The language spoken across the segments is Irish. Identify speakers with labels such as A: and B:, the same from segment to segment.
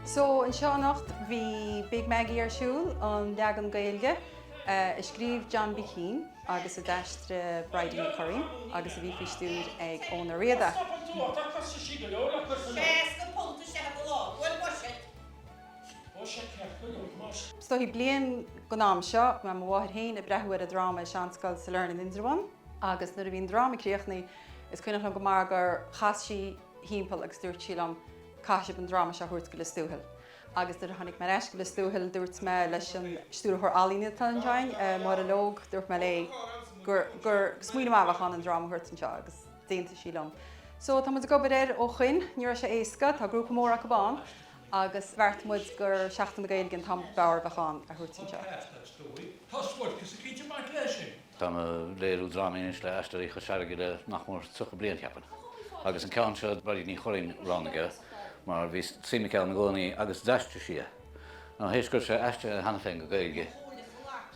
A: So anseo anocht bhí Big Maggie ar siúl, an leagan Gaeilge a scríobh John B Keane agus a d'aistrigh Bridie Ní Churraoin agus a bhí faoi stiúir ag Eoghan Ó Riada. Tá an t-ádh ortsa, tá costaisí go leor le cur san áit. £60 is ea do lá. Bhuel, buiséad. Buiséad ceart go leor, más. Is dóichí bliain go an am seo, go raibh mo mháthair féin ag breathú ar an dráma i Seanscoil Sailearna in Indreabhán agus nuair a bhí an dráma críochnaithe is cuimhneach liom go maith gur chas sí thimpeall agus dúirt sí liom, Caithfidh sibh an dráma seo a thabhairt go Lios Tuathail. Agus nuair a tháinig mé ar ais go Lios Tuathail, dúirt mé leis an Stiúrthóir Ealaíne atá ansin, Máire Logue, dúirt mé léi gur smaoineamh maith a bheadh ann an dráma a thabhairt anseo agus d'aontaigh sí liom. So tá muid ag obair air ó shoin. Ní raibh sé éasca, tá grúpa mór acu ann agus bheartaigh muid gur Seachtain na Gaeilge an t-am ab fhearr a bheadh ann a thabhairt anseo. Táim ag léiriú drámaí anois le Aisteoirí Chois Fharraige le nach mór 30 bliain, cheapfainn, agus an ceann seo Bridie Ní Churraoin a roghnaigh é mar bhí suim aici ann i gcónaí agus d'aistrigh sí é. Nó théis go raibh sé aistrithe cheana féin go Gaeilge,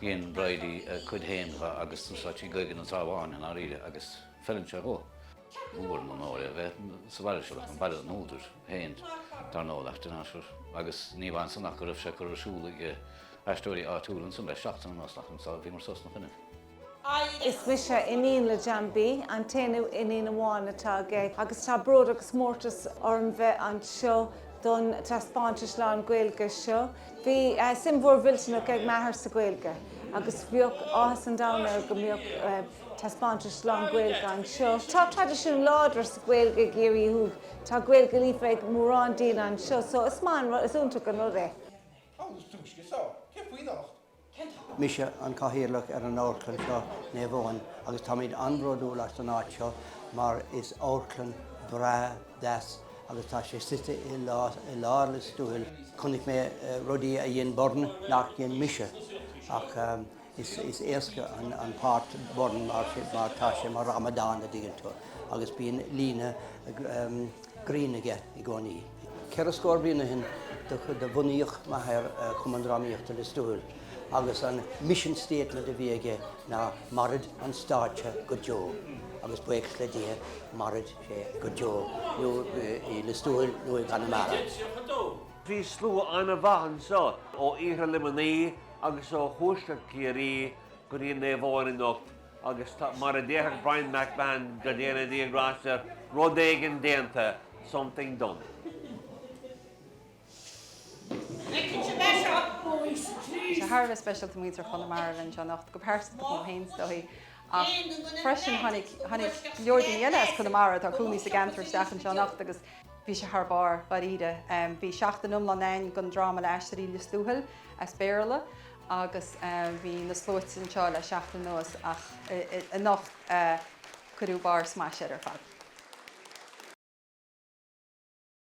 A: dhein Bridie a cuid féin dhe agus d'úsáid sí Gaeilge na Trá Bháin i ndáiríre agus feileann sé dhó. Mór an onóir é a bheith sa bhaile seo, baile an údair. féin, dar ndóigh, leis an aistear agus ní hamháin san ach go raibh sé curtha ar siúl ag aisteoirí áitiúla ansan le seachtain anuas, chomh maith so bhíomar suas ina choinne. Is mise iníon le John B, an t-aonú iníon amháin atá aige, agus tá bród agus mórtas orm bheith anseo don taispeántas lán-Ghaeilge seo. Bhí suim mhór mhillteanach ag m'athair sa Ghaeilge agus bheadh áthas an domhain air go mbeadh taispeántas lán-Ghaeilge anseo. Tá traidisiún láidir sa Ghaeilge i gCiarraí Thuaidh, tá Gaeilge líofa ag mórán daoine anseo so is maith an rud, is iontach an rud é. Tá an lus túisce seo. Cé faoi anocht? Mise an Cathaoirleach ar an Amharclann seo, Naomh Eoin, agus táimid an-bhródúil as an áit seo mar is amharclann breá, deas agus tá sé suite i lár Lios Tuathail. Chonaic mé rudaí a dhein Byrne nach dhein mise ach is éasca an páirt Byrne mar tá sé mar amadán, an dtuigeann tú, agus bíonn líne, grinn aige i gcónaí. Ceithre scór bliain ó shin do bhunaíodh m'athair Cumann Drámaíochta Lios Tuathail agus an mission statement a bhí aige ná Mairfidh an stáitse go deo agus buíochas le Dia mairfidh sé go deo i Lios Tuathail nó i gConamara. Bhí slua an-mhaith anseo ó Iarthar Luimnigh agus ó thuaisceart Chiarraí go dtí Naomh Eoin anocht. Agus tá, mar a déarfadh Bryan MacMahon, go ndéana Dia grásta air, rud éigin déanta, something done. Tá sé thar a bheith speisialta muintir Chonamara linn anseo anocht, go pearsanta chomh maith féin is dóigh ach freisin tháinig, tháinig go leor daoine eile as Conamara atá ag cónaí sa gceantar isteach anseo anocht agus bhí sé thar barr, dháiríre. Bhí seachtain iomlán again den dráma le Aisteoirí Lios Tuathail as Béarla. agus bhí na sluaite anseo le seachtain anuas ach anocht cuireadh barr smaise air ar fad.